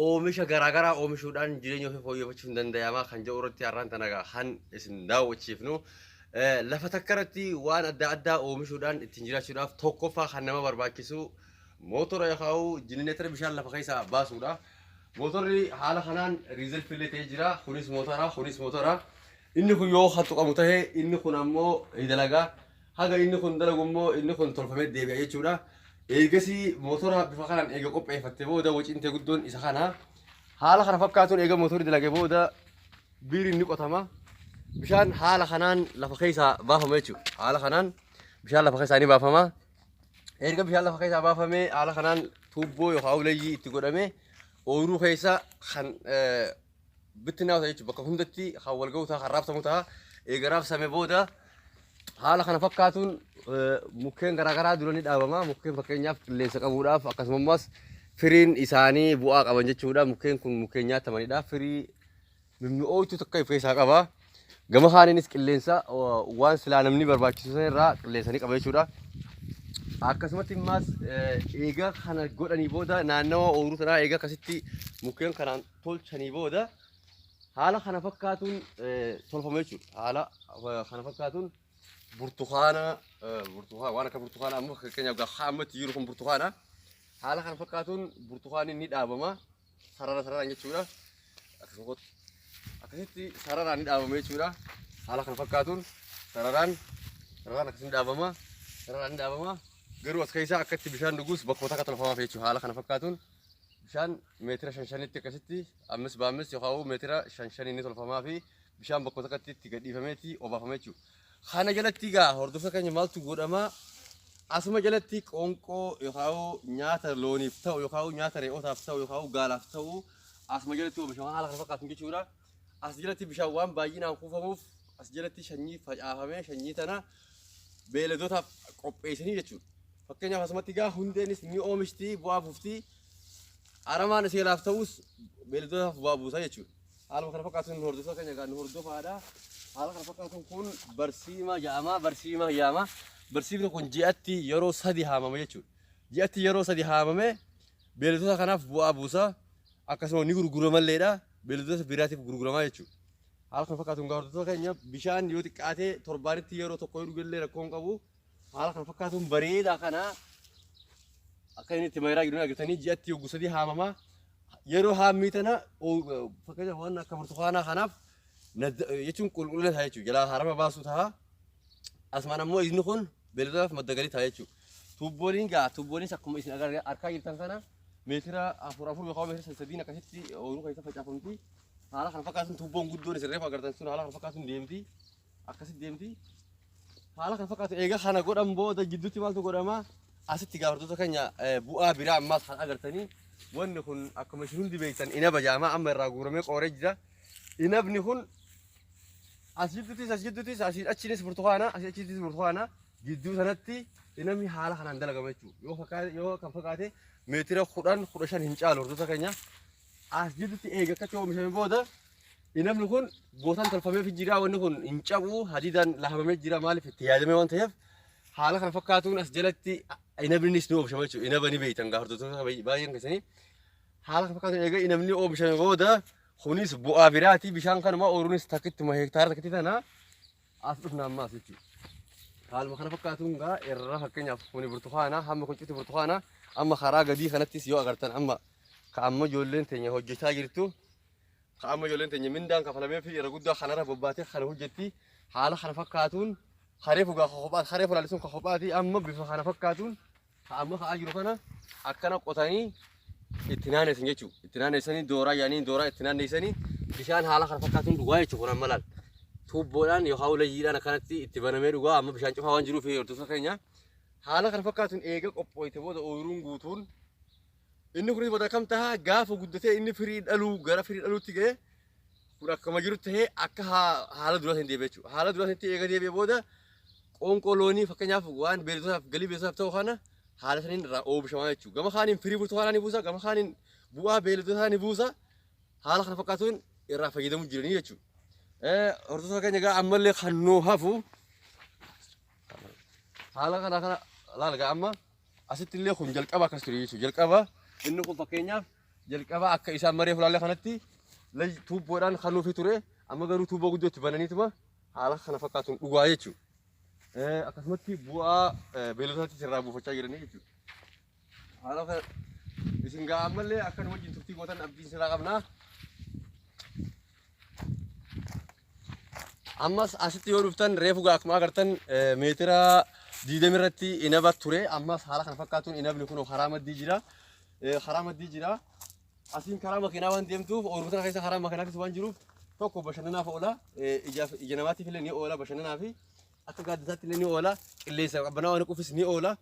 oomisha garaa garaa oomishuudhaan jireenya ofii fooyyeffachuun danda'amaa kan jedhu irratti har'aan tana kan isin daawwachiifnu lafa takka irratti waan adda addaa oomishuudhaan ittiin jiraachuudhaaf tokkoffaa kan nama barbaachisu mootora yookaan jinineetara bishaan lafa keessaa baasuudha. Mootorri haala kanaan riizalfi illee ta'ee jira. Kunis mootora, kunis mootora. Inni kun yoo kan tuqamu ta'e inni kun ammoo ni dalaga. Haga inni kun dalagu immoo inni kun tolfamee deebi'a jechuudha. Eegasii mootora bifa kanaan eega qopheeffatte booda wacintee guddoon isa kana. Haala kana fakkaatuun eega mootorri dalage booda biiriin ni qotama. Bishaan haala kanaan lafa keessaa baafama jechuudha. Haala kanaan bishaan lafa keessaa ni baafama. Erga bishaan lafa keessaa baafamee haala kanaan tuubboo yookaan uleeyyii itti godhamee ooyiruu keessa kan eh, bittinnaa'u ta'a jechuudha. Bakka hundatti kan wal ga'u ta'a, kan raabsamu ta'a. Eega raabsame booda haala kana fakkaatuun eh, mukkeen garaagaraa dura ni dhaabama. Mukkeen fakkeenyaaf qilleensa qabuudhaaf akkasumas firiin isaanii bu'aa qaban jechuudha. Mukkeen kun mukkeen nyaatamanidha. Firii mimmi'ooytu takka of keessaa qaba. Gama kaaniinis qilleensa eh, waan silaa namni barbaachisu sana irraa qilleensa ni qaba jechuudha. Akkasumatti immaas eh, eega kana godhanii booda naannawa ooyiruu sanaa eega akkasitti mukkeen kanaan tolchanii booda haala kana fakkaatuun tolfama jechuudha. Haala kana fakkaatuun burtukaana burtukaana waan akka burtukaana amma fakkeenyaaf gaafa ammatti jiru kun burtukaana haala kana fakkaatuun burtukaanni ni dhaabama sarara sararaan jechuudha. Akkasitti sararaan ni dhaabama jechuudha. Haala kana fakkaatuun sararaan sararaan akkasii ni dhaabama sararaan ni dhaabama garuu as keessaa akkatti bishaan dhugus bakkoota akka tolfamaaf jechuudha. Haala kana fakkaatuun bishaan meetira shan shanitti akkasitti ammis baammis yookaan meetira shan shanii ni tolfamaa fi bishaan bakka tokkotti itti gadhiifameeti obaafama jechuudha. Kana jalatti egaa hordoftoota keenya maaltu godhama? Asuma jalatti qoonqoo yookaan nyaata looniif ta'u yookaan nyaata re'ootaaf ta'u yookaan gaalaaf ta'u asuma jalatti oomishama haala kana fakkaatu jechuudha. As jalatti bishaan waan baay'inaan kuufamuuf as jalatti shanyii facaafamee shanyii tana beeladootaaf qopheessanii jechuudha. Fakkeenyaaf asumatti egaa hundeenis ni oomishti bu'aa buufti. Aramaan ishee laaf ta'us beeladootaaf bu'aa buusa jechuudha. Haaluma kana fakkaatuun nu hordoftoota keenya egaa nu hordofaadha. Haala kana fakkaatuun kun barsiima jedhama barsiima yaama. Barsiifni kun ji'atti yeroo sadi haamama jechuudha. Ji'atti yeroo sadi haamamee beeladota kanaaf bu'aa buusa. akkasuma ni gurguramalleedha beelladoota biraatiif gurguramaa jechuudha. Haala kana fakkaatuun egaa hordoftoota keenya bishaan yoo xiqqaatee torbaanitti yeroo tokko yoo dhugellee rakkoo hin qabu. Haala kana fakkaatuun bareedaa kana akka inni itti mayiraa gidduu argitanii ji'atti yogguu sadii haamama. Yeroo haammii tana oo- fakkeenyaaf waan akka burtukaanaa kanaaf nadda- jechuun qulqullina ta'a jechuudha. Jalaa harama baasuu ta'a. Asumaan ammoo inni kun Beeladootaaf madda galii ta'a jechuudha. Tuubbooliin gaa tuubbooliinis akkuma isin agar- arkaa jirtan kana meetira afur afur yookaan meetira sadii sadiin akkasitti ooyiruu keessa facaafamti. Haala kana fakkaatuun tuubboon guddoon isin reefu agartan sun haala kana fakkaatuun deemti. Akkasitti deemti. Haala kana fakkaatu eega kana godhan booda jidduutti maaltu godhama? Asitti gaafartoota keenya eh, bu'aa biraa ammaas kan agartanii wanni kun akkuma isin hundi beektan inaba jaama amma irraa guuramee qooree jira. Inabni kun As jidduutis as jidduutis asiin achiinis burtukaana asii achiinis burtukaana gidduu sanatti namni haala kanaan dalagama jechuudha. Yoo fakkaate yoo kan fakkaate meetira kudhan kudha shan hin caalu hordoftoota keenya. As jidduutti eega akka ta'e oomishame booda namni kun gootan tolfameef jira wanni kun hin cabu hadiidaan lahamamee jira maaliif itti yaadamee waan ta'eef haala kana fakkaatuun as jalatti inabnis ni oomishama jechuudha. Inaba ni beektan gaa hordoftoota baay'een keessanii haala kana fakkaatuun eega inabni oomishame booda Kunis bu'aa biraati. Bishaan kanuma ooruunis takkittuma hektaara takkitti tana as dhufna amma as jechuudha. Haaluma kana fakkaatuun gaa irra fakkeenyaaf kuni burtukaana hamma kun cufti burtukaana amma karaa gadii kanattis yoo agartan amma ka amma ijoolleen teenya hojjechaa jirtu ka amma ijoolleen teenya mindaan kafalamee fi irra guddaa kanarra bobbaatee kana hojjetti haala kana fakkaatuun haree fugaa ka kophaa haree fulaalisuun ka kophaati amma bifa kana fakkaatuun Ka amma ka'aa jiru kana akkana qotanii itti naannessan jechuudha. Itti naannessanii dooraa yaanii dooraa itti naannessanii bishaan haala kana fakkaatuun dhugaa jechuudha kun amma laal. Tuubboodhaan yookaan ulayyiidhaan akkanatti itti banamee dhugaa amma bishaan cufaa waan jiruuf hordosa keenya. Haala kana fakkaatuun eega qophooyte booda ooyiruun guutuun Inni kunis booda akkam taha gaafa guddatee inni firii dhaluu gara firii dhaluutti ga'e kun akkuma jiru tahee akka haa- haala duraa hin deebi'e jechuudha. Haala duraa sanitti eega deebi'e booda qoonqoo loonii fakkeenyaaf waan beeladootaaf galii beeladootaaf ta'u kana haala saniin irraa oomishamaa jechuudha. Gama kaaniin firii burtukaanaa ni buusa, gama kaaniin bu'aa beeladootaa ni buusa. Haala kana fakkaatuun irraa fayyadamuu jiranii jechuudha. Eh, Hordoftoota keenya egaa ammallee kan nuu hafu haala kana kana laala egaa amma Asitti illee kun jalqaba akkas ture jechuudha. Jalqaba inni kun fakkeenyaaf jalqaba akka isaan maree fulaallee kanatti lay tuubboodhaan kan nuufi ture amma garuu tuubboo guddoo itti bananiituma haala kana fakkaatuun dhugaa jechuudha. Eh, Akkasumatti bu'aa eh, beeyiladotaatti irraa buufachaa jiranii jechuudha. Haala kana isin gaa ammallee akka nu wajjin turtii gootan abdiin siraa qabnaa. Ammas asitti yoo dhuftan reefu gaa akkuma agartan eh, meetira diidami irratti inaba ture. Ammas haala kana fakkaatuun inabni kun karaa maddii jira. Eh, Karaa maddii jira. Asiin karaa makiinaa waan deemtuuf oomisha kana keessa karaa makiinaa keessa waan jiruuf tokko bashannanaaf oola. Eh, Ijaaf ija namaatiif illee ni oola bashannanaa fi akka gaaddisaatti illee ni oola. Qilleensa qabbanaa waan quufis ni oola.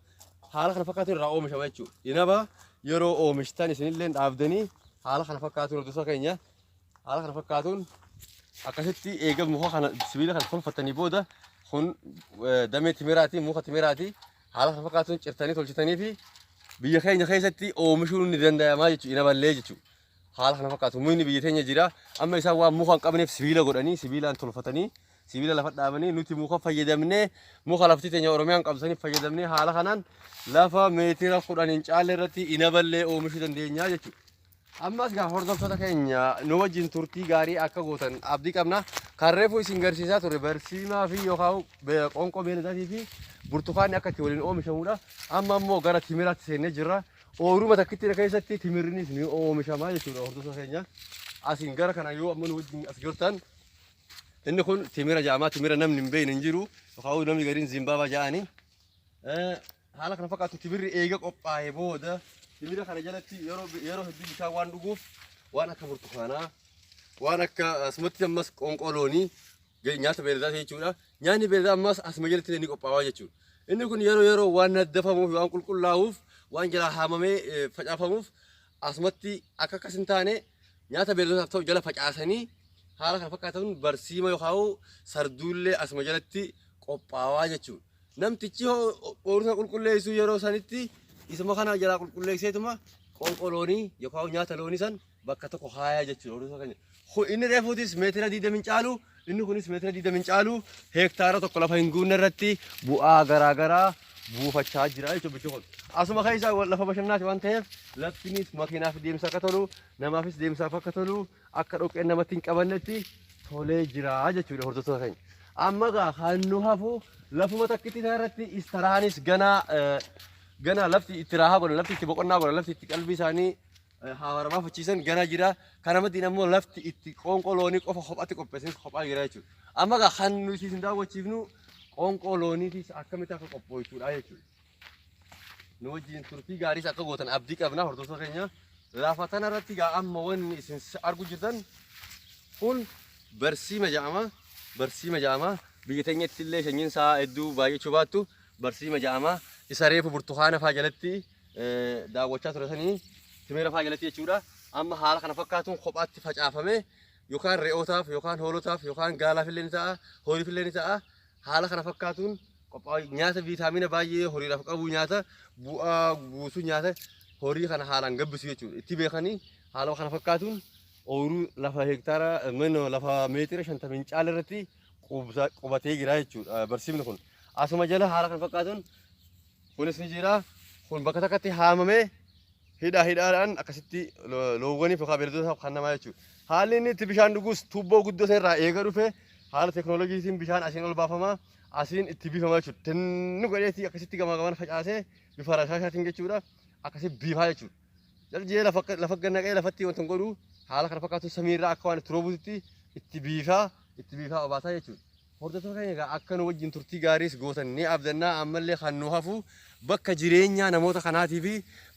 Haala kana fakkaatuun irraa oomishama jechuudha. Inaba yeroo oomishtan isinillee dhaabdanii haala kana fakkaatuun hordoftoota keenya haala kana fakkaatuun akkasitti eega muka kana sibiila kana tolfatanii booda kun damee timiraati muka timiraati haala kana fakkaatuun cirtanii tolchitanii fi biyya keenya keessatti oomishuun ni danda'amaa jechuudha ina ballee jechuudha. Haala kana fakkaatu mukni biyya keenya jira amma isaan waan muka hin qabneef sibiila godhanii sibiilaan tolfatanii sibiila lafa dhaabanii nuti muka fayyadamnee muka lafti teenya Oromiyaan qabsanii fayyadamnee haala kanaan lafa meetira kudhan hin caalle irratti ina ballee oomishuu dandeenya jechuudha. Ammas gaa hordoftoota keenya nu wajjin turtii gaarii akka gootan abdii qabna. Kan reefu isin garsiisaa ture barsiimaa fi yookaan be- qoonqoo beeladaatii fi burtukaanni akka itti waliin oomishamudha. Amma immoo gara timiraatti seennee jirra. Ooyiruma takkittiidha keessatti timirrinis ni oomishama jechuudha hordoftoota keenya. Asiin gara kana yoo amma nu wajjin as jirtan inni kun timira jedhama. Timira namni hin beekne hin jiru. Yookaan namni gariin zimbaabaa jedhani. Eh, Haala kana fakkaatu tibirri eega qophaa'ee booda tibira kana jalatti yeroo yeroo hedduu bishaan waan dhuguuf waan akka burtukaanaa waan akka asumatti ammas qoonqoo loonii je- nyaata beeladaa ta'e jechuudha. Nyaanni beeladaa ammas asuma jalatti ni qophaa'aa jechuudha. Inni kun yeroo yeroo waan naddafamuuf waan qulqullaa'uuf waan jalaa haamamee eh, facaafamuuf asumatti akka akkas hin taane nyaata beeladootaaf ta'u jala facaasanii haala kana fakkaatan barsiima yookaan sarduullee asuma jalatti qophaa'aa jechuudha. Namtichi hoo oomisha qulqulleessu yeroo sanitti isuma kana jalaa qulqulleesseetuma qoonqoo loonii yookaan nyaata loonii san bakka tokko haayaa jechuudha oomisha keenya. Kun inni reefuutis meetira 20 hin caalu inni kunis meetira 20 hin caalu heektaara tokko lafa hin guunne irratti bu'aa garaa garaa buufachaa jira jechuudha bichi kun. Asuma keessa lafa bashannaati waan ta'eef laftinis makiinaaf deemsa akka tolu namaafis deemsaaf akka tolu akka dhoqqeen namatti hin qabannetti tolee jira jechuudha hordoftoota keenya. Amma egaa kan nu hafu lafuma takkitti isaa irratti istaraanis ganaa eh, ganaa lafti itti raahaa godhan lafti itti boqonnaa godhan lafti itti qalbii isaanii eh, haawaramaa fachiisan ganaa jira. Kana maddeen ammoo lafti itti qoonqoo loonii qofa kophaatti qopheessan kophaa jira jechuudha. Amma egaa kan nuti isin daawwachiifnu qoonqoo looniitis akkamitti akka qophooytuudha jechuudha. nu wajjin turtii gaariis akka gootan abdii qabna hordoftoota keenya lafa tana irratti gaa amma wanni isin argu jirtan kun barsiima ja'ama barsiima ja'ama biyya teenyatti illee shanyiin isaa hedduu baay'achuu baattu barsiima ja'ama isa reefu burtukaana faa jalatti eh, daawwachaa turatanii timira faa jalatti jechuudha amma haala kana fakkaatuun kophaatti facaafame yookaan re'ootaaf yookaan hoolotaaf yookaan gaalaaf illee ni ta'a hooliif illee ni ta'a Haala kana fakkaatuun qophaa'u nyaata viitaamina baay'ee horiidhaaf qabu nyaata bu'aa buusu nyaata horii kana haalaan gabbisu jechuudha. Itti beekanii haala kana fakkaatuun ooyiruu lafa hektaara mino lafa meetira shantamiin caala irratti qubsa- qubatee jira jechuudha barsiifni kun. Asuma jala haala kana fakkaatuun kunis ni jira. Kun bakka takkatti haamamee Hidhaa hidhaadhaan akkasitti loowwaniif yookaan beeladootaaf kan namaa jechuudha. Haalli inni itti bishaan dhugus tuubboo guddoo sana irraa eega dhufe haala teeknooloojiitiin bishaan asiin ol baafama asiin itti biifama jechuudha. Tinni godheetii akkasitti gamaa gamaan facaasee bifa rashaashaatiin jechuudha akkasii biifaa jechuudha. Jalji'ee lafa lafa gannaqee lafatti wanta hin godhu haala kana fakkaatu samii irraa akka waan itti roobuutti itti biifaa itti biifaa obaasaa jechuudha. Hordoftoota keenya egaa akka nu wajjin turtii gaariis gootan ni abdannaa ammallee kan nu hafu bakka jireenyaa namoota kanaatii fi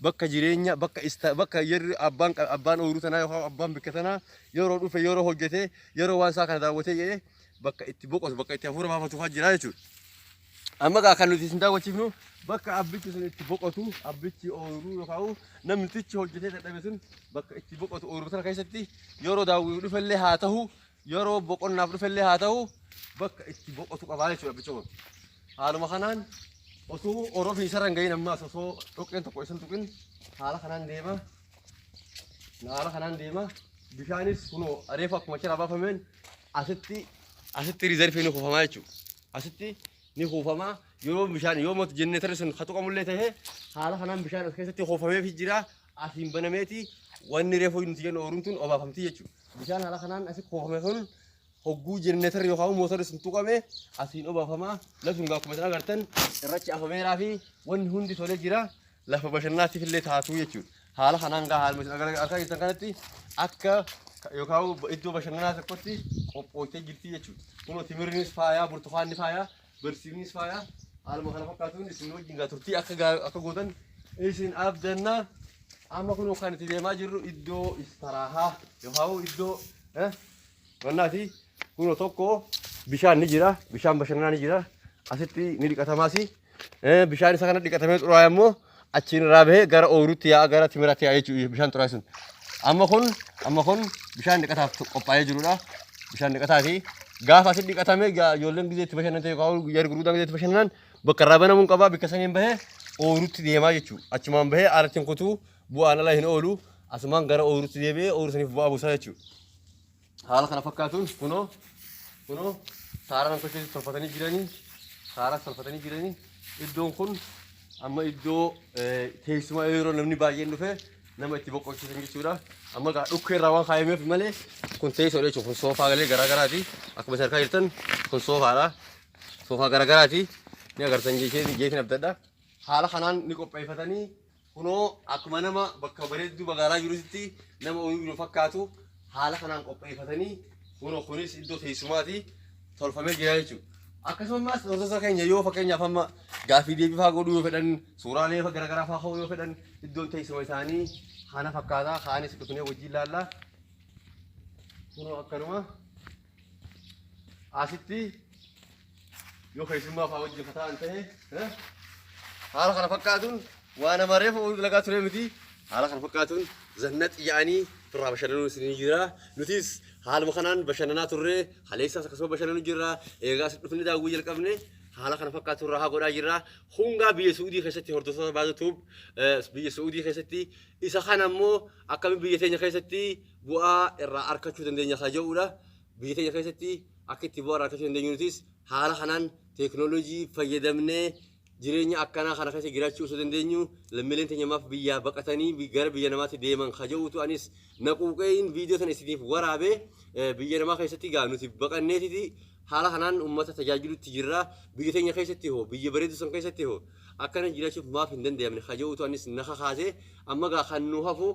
bakka jireenya bakka ista bakka yerri abbaan qa- abbaan ooyiruu tanaa yookaan abbaan bikka tanaa yeroo dhufe yeroo hojjete yeroo waan isaa kana daawwatee jedhee bakka itti boqotu bakka itti hafuura baafatu kan jira jechuudha. Amma egaa kan nuti isin daawwachiifnu bakka abbichi sun itti boqotu abbichi ooyiruu yookaan namtichi hojjetee dadhabe sun bakka itti boqotu ooyiruu sana keessatti yeroo daawwii dhufellee haa ta'u yeroo boqonnaaf dhufe illee haa ta'u bakka itti boqotu qabaa jechuudha abbicha kun. Haaluma kanaan osoo orofni isarra hin gahin ammaas osoo dhoqqeen tokko isin tuqin haala kanaan deema. Haala kanaan deema. Bishaanis kunoo reefu akkuma achirraa baafameen asitti asitti riizarfii ni kuufamaa jechuudha. Asitti ni kuufamaa yeroo bishaan yoo mootu jenneetarri sun katuqamullee ta'ee haala kanaan bishaan as keessatti kuufameefii jira. Asiin banameeti wanni reefu nuti jennu ooruun tun obaafamti jechuudha. Bishaan haala kanaan asi kuufame kun hogguu jenereetarri yookaan mootorri sun tuqame asiin obaafama. Lafti kun akkuma isin agartan irrachi afameeraa fi wanni hundi tolee jira. Lafa bashannanaatiif illee taatuu jechuudha. Haala kanaan gaa haaluma isin agar- argaa jirtan kanatti akka yookaan iddoo bashannanaa tokkotti qophooftee jirti jechuudha. Kunoo timirrinis faayaa, burtukaanni faayaa Barsiifnis faayaa haaluma kana fakkaatuun isin wajjin gaa turtii akka gaa- akka gootan isin abdanna. Amma kun kan itti deemaa jirru iddoo istaraahaa yookaan iddoo eh, wannaati. Kunoo tokko bishaan ni jira, bishaan bashannanaa ni jira. Asitti ni dhiqatamaasi. Eh, Bishaan isa kana dhiqatamee xuraa'e immoo achiin irraa bahee gara ooyiruutti yaa'a gara timiraatti yaa'a jechuudha bishaan xuraa'e sun. Amma kun amma kun bishaan dhiqataaf qophaa'ee jirudha. Bishaan dhiqataati. Gaafa asitti dhiqatame gaa- ijoolleen gizee itti bashannante yookaan guyyaa gurguddaan gizee itti bashannanan bakka irraa banamuun qaba bakka saniin bahee ooyiruutti deemaa jechuudha. Achumaan bahee aalattiin kutuu bu'aan ala hin oolu asumaan gara ooyiruutti deebi'ee ooyiruu saniif bu'aa buusaa jechuudha. Haala kana fakkaatuun kunoo kunoo saara namtocha keessa tolfatanii jiranii saaraas tolfatanii jiranii iddoon kun amma iddoo teessumaa yeroo namni baay'een dhufe nama itti boqochiisan jechuudha. Amma gaa dhukkee irraa waan kaayameef malee kun teessoodha jechuudha. Kun soofaa galee garaa garaati. Akkuma isin argaa jirtan kun soofaadha. Soofaa garaa garaati. Ni agartan jechuudha. Jeetiin abdadha. Haala kanaan ni qopheeffatanii Kunoo akkuma nama bakka bareedduu magaalaa jirutti nama ooyiruu jiru fakkaatu haala kanaan qopheeffatanii kunoo kunis iddoo teessumaati tolfamee jira jechuudha. Akkasumas hordoftoota keenya yoo fakkeenyaaf amma gaaffii deebii fa'aa godhuu yoo fedhan suuraalee fa- garaagaraa fa'aa ka'uu yoo fedhan iddoon teessuma isaanii kana fakkaata kaanis dhufnee wajjin laalla kunoo akkanuma asitti yoo keessummaa fa'aa wajjin ka ta'an ta'e eh, haala kana fakkaatuun waa nama reefu oolu dalagaa ture miti haala kana fakkaatuun zannat yaa'anii turraa bashannanuu isinii jira nutis haaluma kanaan bashannanaa turre haleessaas akkasuma bashannanuu jirra eegaas dhufne daawwii jalqabne haala kana fakkaatu irraa haa godhaa jirra hungaa biyya suudii keessatti hordoftoota baatu tuub biyya suudii keessatti isa kana immoo akkamiin biyya teenya keessatti bu'aa irraa arkachuu dandeenya ka ja'uu dha. Biyya teenya keessatti akka itti bu'aa irraa arkachuu dandeenyu nutis haala kanaan teeknooloojii fayyadamnee jireenya akkanaa kana keessa jiraachuu osoo dandeenyu lammiileen teenya maaf biyyaa baqatanii gara biyya namaatti deeman ka ja'uutu anis na quuqeeyin viidiyoo sana isiniif waraabee biyya namaa keessatti gaa nuti baqanneetiti haala kanaan uummata tajaajilutti jirra biyya teenya keessatti hoo biyya bareedu san keessatti hoo akkana jiraachuuf maaf hin danda'amne ka ja'uutu anis na kakaase amma gaa kan nu hafu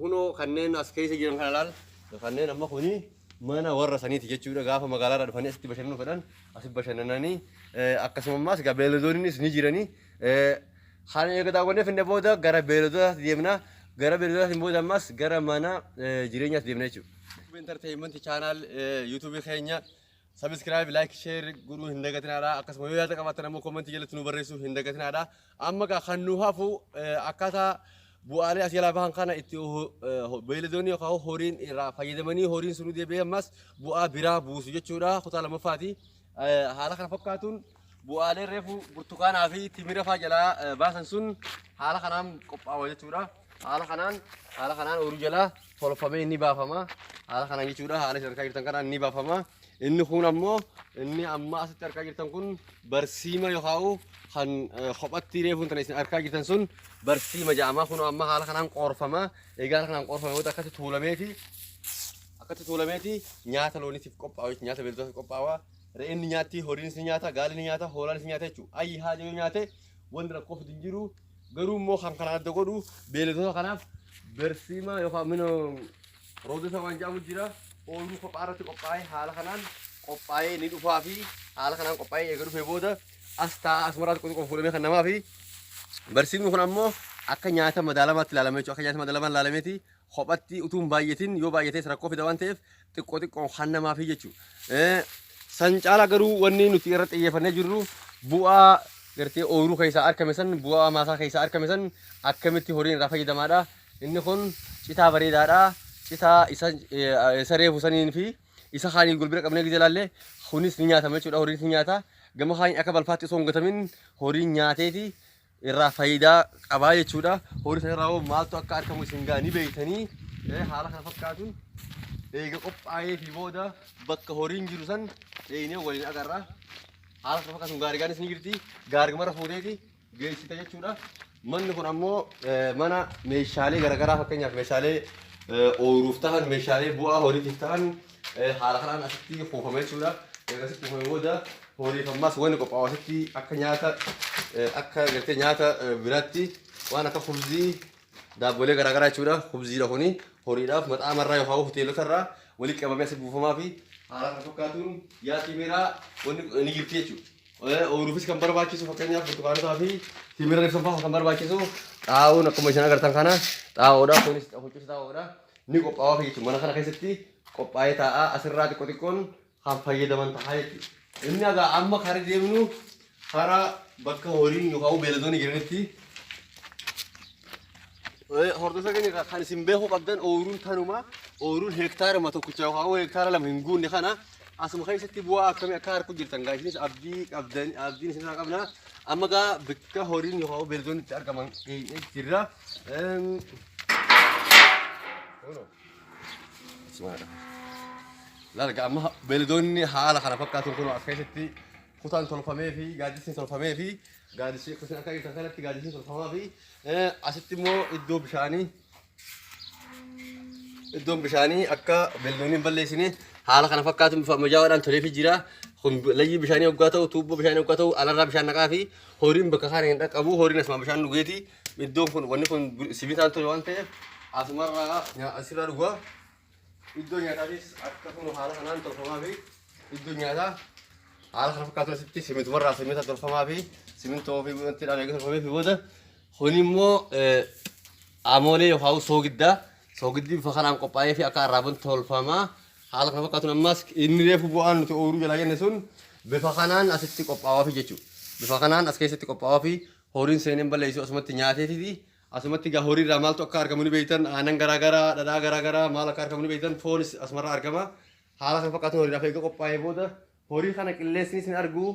Kunoo kanneen as keessa jiran kana laal kanneen amma kuni mana warra saniiti jechuudha gaafa magaalaarraa dhufanii asitti bashannanuu fedhan asi bashannananii akkasuma ammaas egaa beeladoonnis ni jiranii kan eega daawwannee finne booda gara beeladootaatti deemna gara beeladootaatiin booda ammaas gara mana jireenyaatti deemna jechuudha. Entertainment channel YouTube keenya Subscribe, like, share godhuu hin dagatinaadha. Akkasuma yoo yaada qabaattan ammoo comment jalatti nu barreessuu hin dagatinaadha. Amma gaa kan nu hafu eh, akkaataa bu'aalee as jalaa bahan kana itti ho- eh, ho- beeyladoonni yookaan hoo horiin irraa fayyadamanii horiin sun deebi'ee ammas bu'aa biraa buusu jechuudha. Kutaa lammaffaati. Eh, Haala kana fakkaatuun Bu'aaleen reefu burtukaanaa fi timira faa jalaa eh, baasan sun haala kanaan qophaawa jechuudha. Haala kanaan haala kanaan ooyiruu jalaa tolfamee inni baafama. Haala kanaan jechuudha haala isin argaa jirtan kanaan inni baafama. Inni kun ammoo inni amma asitti argaa jirtan kun barsiima yookaan kan eh, kophatti reefuun tana isin argaa jirtan sun barsiima jedhama. Kun amma haala kanaan qoorfama. Egaa haala kanaan qoorfame booda akkatti tuulameeti akkatti tuulameeti nyaata looniitiif qophaa'u jechuudha. Nyaata beelladotaaf qophaa'u. Re'een ni nyaatti, horiinis ni nyaata, gaalli ni nyaata, hoolaanis ni nyaata jechuudha. Ayyi haati yoo nyaate wanni rakkoo fidu hin jiru. Garuu immoo kan kana adda godhu beeyladoota kanaaf bersiima yookaan mino roodota waan jedhamu jira. Ooyiruu kophaa irratti qophaa'ee haala kanaan qophaa'ee ni dhufaa fi haala kanaan qophaa'ee eega dhufee booda as taa'aa asumaraatti qoxiqoon fuudhamee kan namaa fi Barsiifni kun ammoo akka nyaata madaalamaatti ilaalame jechuudha. Akka nyaata madaalamaan ilaalameeti kophatti utuu hin baay'atin yoo baay'ates rakkoo fida waan ta'eef xiqqoo xiqqoon kan namaaf jechuudha. Eh, San caala garuu wanni nuti irra xiyyeeffannee jirru bu'aa gartee ooyiruu keessaa argame san bu'aa maasaa keessaa argame san akkamitti horiin irraa fayyadamaadha. Inni kun citaa bareedaadha. Citaa isa eh, isa reefu saniin fi isa kaaniin gulbira qabnee gidee ilaalle kunis ni nyaatama jechuudha horiin ni nyaata. Gama kaaniin akka balfaatti osoo hin gatamin horiin nyaateeti irraa faayidaa qabaa jechuudha. Horii sana irraa hoo maaltu akka argamu isin gaa ni beektanii eh, haala kana fakkaatuun eega qophaa'ee fi booda bakka horiin jiru san dheenee waliin agarra. Haala kana fakkaatuun gaarigaan isin jirti. Gaarimarra fuuteeti geessita jechuudha. Manni kun ammoo eh, mana meeshaalee garaagaraa fakkeenyaaf meeshaalee eh, ooyiruuf tahan, meeshaalee bu'aa horiitiif tahan haala kanaan asitti kuufama jechuudha. Erga asitti kuufame booda horiif ammas wanni qophaa'u asitti akka nyaata akka gartee nyaata biraatti waan akka kubzii daabbolee garaagaraa jechuudha. Kubziidha kuni horiidhaaf maxaama irraa yookaan hoteelota irraa walitti qabamee asitti buufamaa fi haala kan fakkaatuun yaa'ii miiraa wanni ni jirti jechuudha. Ooyiruufis kan barbaachisu fakkeenyaaf burtukaanotaa fi timira ibsan fa'aa kan barbaachisu xaa'oon akkuma isin agartan kana xaa'oodha kunis hojjetu xaa'oodha. ni qophaa'aaf jechuudha. Mana kana keessatti qophaa'ee taa'a. Asirraa xiqqoo xiqqoon kan fayyadaman ta'a jechuudha. Inni egaa amma karaa deemnu karaa bakka horiin yookaan beeladoonni jiranitti hordofaa keenya egaa kan isin beekuu qabdan ooyiruun tanuma ooyiruun heektaaruma tokkicha yookaan heektaara lama hin guunne kana asuma keessatti bu'aa akkamii akka harku jirtan gaa isinis abdii qabdan abdiin isinirraa qabna amma gaa bakka horiin yookaan beeladoonni itti argaman geenye jirra. Eem, Larga amma beeyladoonni haala kana fakkaatuun kun akka keessatti kutaan tolfamee fi gaaddisni tolfamee fi gaaddisni kutaan akka keessatti kanatti gaaddisni tolfamaa fi asitti immoo iddoo bishaanii iddoon bishaanii akka beeyladoonni hin balleessine haala kana fakkaatuun bifa ammayyaa'aadhaan tolee fi jira. Kun layyii bishaanii hoggaa ta'u tuubboo bishaanii hoggaa ta'u alarraa bishaan naqaa fi horiin bakka kana hin dhaqqabu horiin asuma bishaan dhugeeti. Iddoon kun wanni kun sibiilaan tole waan ta'eef asumarraa nyaa- asirraa dhugaa iddoo nyaataatis akkasuma haala kanaan tolfamaa fi iddoo nyaataa haala kana fakkaatu asitti simintumarraa simita tolfamaa fi simintoo fi wanti dhaabee tolfamee fi booda kun immoo eh, amoolee yookaan soogiddaa soogiddi bifa kanaan qophaa'ee fi akka arraaban tolfamaa haala kana fakkaatuun ammas inni reefu bu'aan nuti ooyiruu jalaa jenne sun bifa kanaan asitti qophaa'aa fi jechuudha. Bifa kanaan as keessatti qophaa'aa fi Horiin seenee hin balleessu asumatti nyaateetiti. Asumatti egaa horii irraa maaltu akka argamu ni beektan aannan garaa garaa dhadhaa garaa garaa maal akka argamu ni beektan foonis asumarraa argama. Haala kan fakkaatu horiidhaaf eega qophaa'ee booda horii kana qilleensinis hin argu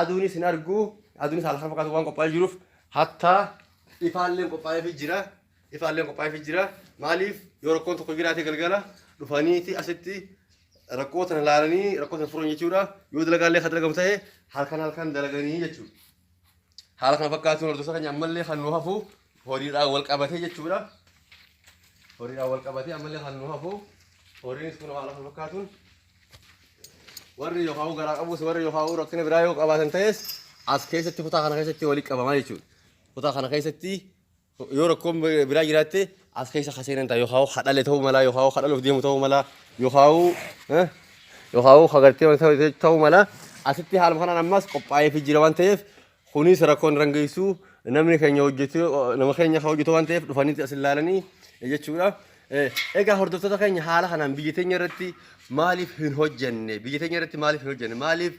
aduunis hin argu aduunis haala kan fakkaatu waan qophaa'ee jiruuf hattaa ifaalleen qophaa'eefi jira. Ifaalleen qophaa'eefi jira. Maaliif yoo rakkoon tokko jiraate galgala dhufaniiti asitti rakkoo tana laalanii rakkoo tana furan jechuudha. Yoo dalagaallee kan dalagamu ta'e halkan halkan dalaganii jechuudha. Haala kana fakkaatuun hordoftoota keenya ammallee kan nu hafu horiidhaan wal qabatee jechuudha. Horiidhaan wal qabatee ammallee kan nu hafu horiinis kun haala kana fakkaatuun warri yookaan garaa qabus warri yookaan rakkina biraa yoo qabaatan ta'es as keessatti kutaa kana keessatti walitti qabamaa jechuudha. Kutaa kana keessatti Yoo rakkoon biraa jiraatte as keessa ka seenan ta'a yookaan ka dhale ta'uu malaa yookaan ka dhaluuf deemu ta'uu malaa yookaan yookaan ka gartee ta'uu malaa asitti haaluma kanaan ammas qophaa'ee fi jira waan ta'eef kunis rakkoon irra geessu namni keenya hojjetu nama keenya kan hojjetu waan ta'eef dhufanii as ilaalanii jechuudha. Egaa hordoftoota keenya haala kanaan biyya teenya irratti maaliif hin hojjenne biyya teenya irratti maaliif hin hojjenne maaliif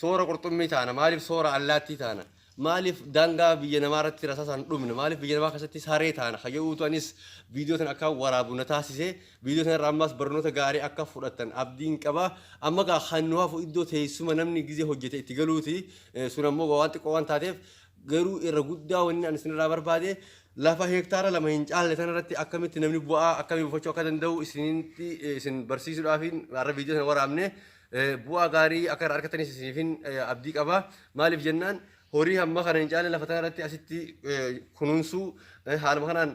soora qurxummii taana maaliif soora allaattii taana Maaliif daangaa biyya namaa irratti rasaasaan dhumna? Maaliif biyya namaa keessatti saree taana? Kan jedhuutu anis viidiyoo tana akka waraabu na taasise. Viidiyoo tana irraa ammas barnoota gaarii akka fudhattan abdiin qaba. Amma gaa kan nu hafu iddoo teessuma namni gizee hojjete itti galuuti. Eh, Sun ammoo waan xiqqoo waan taateef garuu irra guddaa wanni ani isinirraa barbaade lafa heektaara lama hin caalle tana irratti akkamitti namni bu'aa akkamii buufachuu akka danda'u isinitti eh, isin barsiisuudhaaf har'a viidiyoo tana waraabne. bu'aa gaarii akka irraa argatanis isiniifin abdii qaba. Maaliif jennaan horii hamma kana hin caalle lafa tana irratti asitti kunuunsuu haaluma kanaan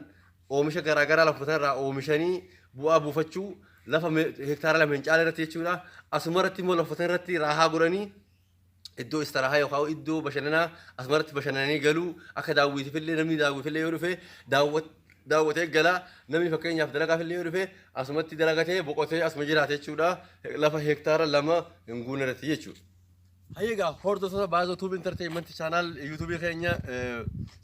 oomisha garaagaraa lafa tana irraa oomishanii bu'aa buufachuu lafa hektaara lama hin caalle irratti jechuudha. Asuma irratti immoo lafa tana irratti raahaa godhanii iddoo istiraahaa yookaan iddoo bashannanaa asumarratti bashannananii galuu akka daawwitiifillee namni daawwitiifillee yoo dhufe daawwat- daawwatee gala namni fakkeenyaaf dalagaafillee yoo dhufe asumatti dalagatee boqotee asuma jiraate jechuudha lafa hektaara lama hin guunne irratti jechuudha. Hayyee egaa hordoftoota baazoo tuubi intarteeyimenti chaanaal yuutuubii keenya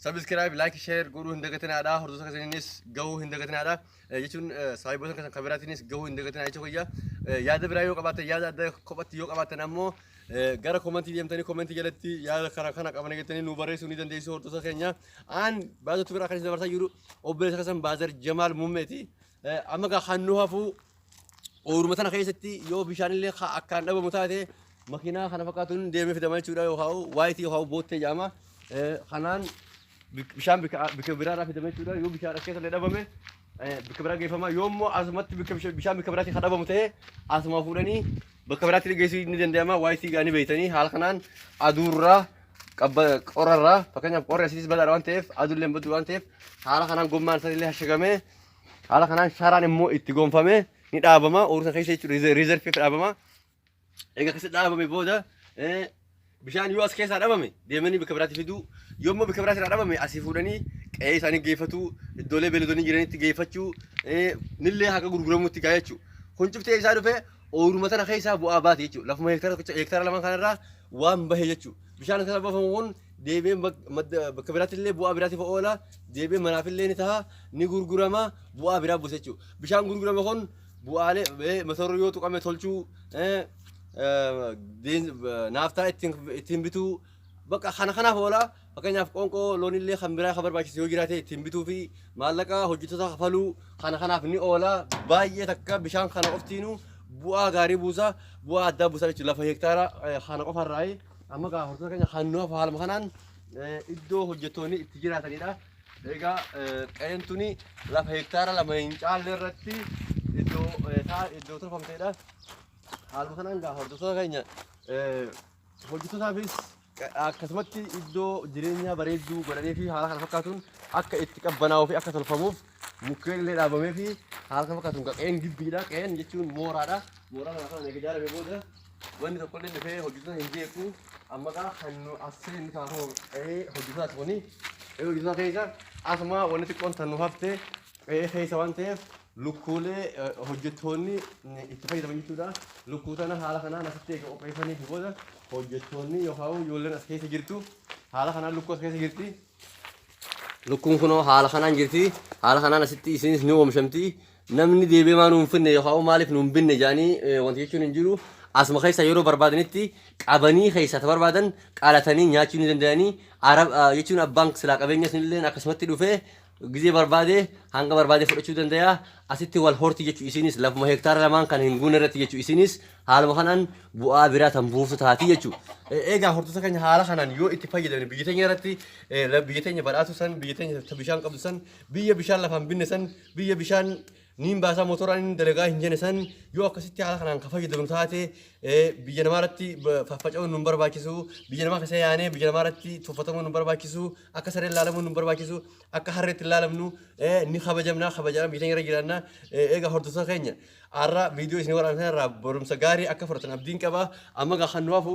sabiskiraayib laayik sheer godhuu hin dagatinaadha hordoftoota keessaniinis gahuu hin dagatinaadha jechuun saahiboota keessan kan biraatiinis gahuu hin dagatinaa jecha kiyya. Yaada biraa yoo qabaatan yaada adda kophatti yoo qabaatan ammoo gara komantii deemtanii komantii jalatti yaada kana kana qabana jettanii nu barreessuu ni dandeessu hordoftoota keenya. Aan baazar tubiraa kan isin dabarsaa jiru obboleessa keessan baazar Jamaal Mummeeti. Amma gaa kan nu hafuu ooruma sana keessatti yoo bishaan illee akkaan dhabamu taate makiinaa kana fakkaatuun deemee fidama jechuudha yoo haa'u waayitii yoo haa'u boottee jaama. Kanaan bik- bishaan bika bika biraarraa fidame jechuudha. Yoo bishaan as keessallee dhabame eh, bika biraa geeffama. Yoo immoo asumatti bika bisha- bishaan bika biraatti kan dhabamu ta'e asumaa fuudhanii bakka biraatti illee geessuu ni danda'ama. Waa itti gaanii beektanii haala kanaan aduurraa qabba qorarraa fakkeenyaaf qorri asiitis badaadha waan ta'eef aduullee hin baddu waan ta'eef haala kanaan gommaan isaa illee hashagamee haala kanaan sharaan immoo itti gonfamee ni dhaabama. Oomisha keessa jechuudha riizerfiif dhaabama. Egaa akkasitti dhaabame booda eh, bishaan yoo as keessaa dhabame deemanii bakka biraatti fiduu yoo immoo bakka biraatti irraa dhabame asii fuudhanii qe'ee isaanii geeffatu iddoolee beeladonni jiranitti geeffachuu eh, nillee haga gurguramutti gaa jechuudha. Kun cuftee isaa dhufee ooyiruma tana keessaa bu'aa baate jechuudha. Lafuma heektaara tokkicha heektaara lama kanarraa waan bahe jechuudha. Bishaan kana bafamu kun deebi'ee bak- madda- bakka biraatti illee bu'aa biraatiif oola deebi'ee manaaf illee ni ta'a ni gurgurama bu'aa biraa buusa jechuudha. Bishaan gurgurame kun bu'aalee eh, mata duree yoo tuqame tolchuu eh, eh, been- eh, naaftaa ittiin ittiin bituu bakka kana kanaaf oola fakkeenyaaf qoonqoo loonillee kan biraa kan barbaachisu yoo jiraate ittiin bituu fi maallaqa hojjettoota kafaluu kana kanaaf ni oola baay'ee takka bishaan kana qoftiinu bu'aa gaarii buusa bu'aa addaa buusa jechuudha lafa hektaara eh, kana qofarraa amma gaa hojjettoota keenya kan nuuf haaluma kanaan eh, iddoo hojjettoonni itti jiraatanidha. Egaa qa'een tuni lafa hektaara lama hin caalle irratti iddoo isaa iddoo tolfamteedha. Haaluma kanaan gaa hordoftoota keenya hojjettootaafis akkasumatti iddoo jireenyaa bareedduu godhanii fi haala kana fakkaatuun akka itti qabbanaa'uu fi akka tolfamuuf mukkeen illee dhaabamee fi haala kana fakkaatuun qa'een gibbiidha. Qa'een jechuun mooraadha. Mooraa kana kan ijaarame booda Wanni tokkollee dhufee hojjettoota hin jeequ. Amma kaa kan nu as seenni kaa koo qe'ee hojjettotaati kuni. Qe'ee hojjettotaa keessa asuma wanni xiqqoon tan nu hafte qe'ee keessa waan ta'eef lukkuulee eh, hojjettoonni ni itti fayyadaman jechuudha. Lukkuu tana haala kanaan asitti eega qopheessanii fi booda hojjettoonni yookaan ijoolleen as keessa jirtu haala kanaan lukkuu as keessa jirti. Lukkuun kunoo haala kanaan jirti. Haala kanaan asitti isinis ni oomishamti. Namni deebi'ee maa nuun finne yookaan maaliif nuun binne jedhanii wanti jechuun hin jiru. Asuma keessaa yeroo barbaadanitti qabanii keessaa ta barbaadan qalatanii nyaachuu ni danda'anii. Arab jechuun abbaan silaa qabeenya sunillee akkasumatti dhufee gizee barbaade hanga barbaade fudhachuu danda'a. Asitti wal horti jechuu isiinis lafuma hektaara lamaan kan hin guunne irratti jechuu isiinis haaluma kanaan bu'aa biraa tan buuftu taati jechuu. Egaa hortoota keenya haala kanaan yoo itti fayyadamne biyya teenya irratti biyya teenya badhaatu san biyya teenya bishaan qabdu san biyya bishaan lafaan binne san biyya bishaan niin baasaa motoraan inni dalagaa hin jenne san yoo akkasitti haala kanaan ka fayyadamnu taate biyya namaa irratti faffaca'uun nu barbaachisu biyya namaa keessa yaanee biyya namaa irratti tuffatamuun nu barbaachisu akka sareen laalamuun nu barbaachisu akka harreetti laalamnu ni kabajamna kabajaan biyya irra jiraanna eega hordoftoota keenya har'a viidiyoo isin waraabsan irraa barumsa gaarii akka fudhatan abdiin qaba amma gaa kan nu hafu